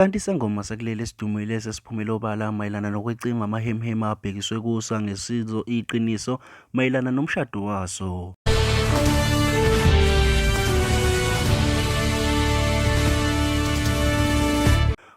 Kanti isangoma sakuleli esidumile esesiphumele obala mayelana nokwecingwa amahemhema abhekiswe kuso angesizo iqiniso mayelana nomshado waso.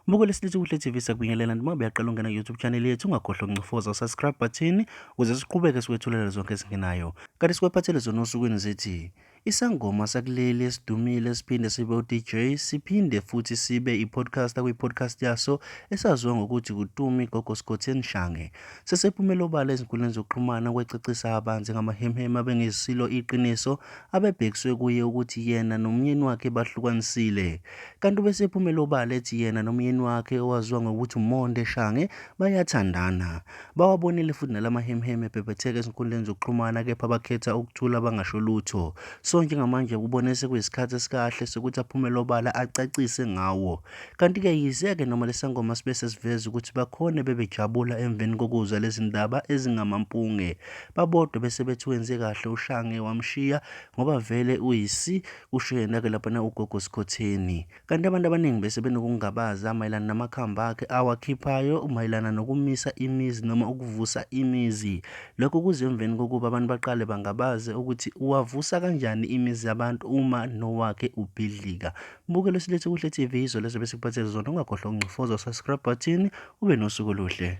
Buko lesilithi kuhle TV sakubingelela noma buyaqala ungena YouTube channel yethu ungakhohlwa ukuncofoza subscribe button ukuze siqhubeke sikwethulela zonke ezingenayo. Kanti sikwephathele zona osukwini zithi Isangoma sakuleli esidumile esiphinde sibe uDJ siphinde futhi sibe ipodcaster kwipodcast yaso esaziwa ngokuthi kuTumi Gogo Scotty Nshange. Sesephumele obala ezinkundleni zokuxhumana kwecacisa abanzi ngamahemhema bengesilo iqiniso abebhekiswe kuye ukuthi yena nomyeni wakhe bahlukanisile. Kanti ubesephumele obala ethi yena nomyeni wakhe owaziwa ngokuthi uMonde Shange bayathandana. Bawabonile futhi nala mahemuhemu ebhebhetheka ezinkundleni zokuxhumana kepha bakhetha ukuthula bangasho lutho. Sonke ngamanje kubone sekuyisikhathi esikahle sokuthi aphumele obala acacise ngawo. Kanti-ke yize-ke noma lesangoma sibe sesiveza ukuthi bakhone bebejabula emveni kokuzwa lezi ndaba ezingamampunge. Babodwa bese bethi wenze kahle ushange wamshiya ngoba vele uyisi kusho yena-ke laphana ugogo Sikhotheni. Kanti abantu abaningi bese benokungabaza mayelana namakhambi akhe awakhiphayo mayelana nokumisa imizi noma ukuvusa imizi. Lokho kuze emveni kokuba abantu baqale bangabaze ukuthi uwavusa kanjani imizi yabantu uma nowakhe ubhidlika. Mbukelo silethe kuhle TV izolo ezobe sikuphathele zona ungakhohlwa ukungcofoza subscribe button ube nosuku oluhle.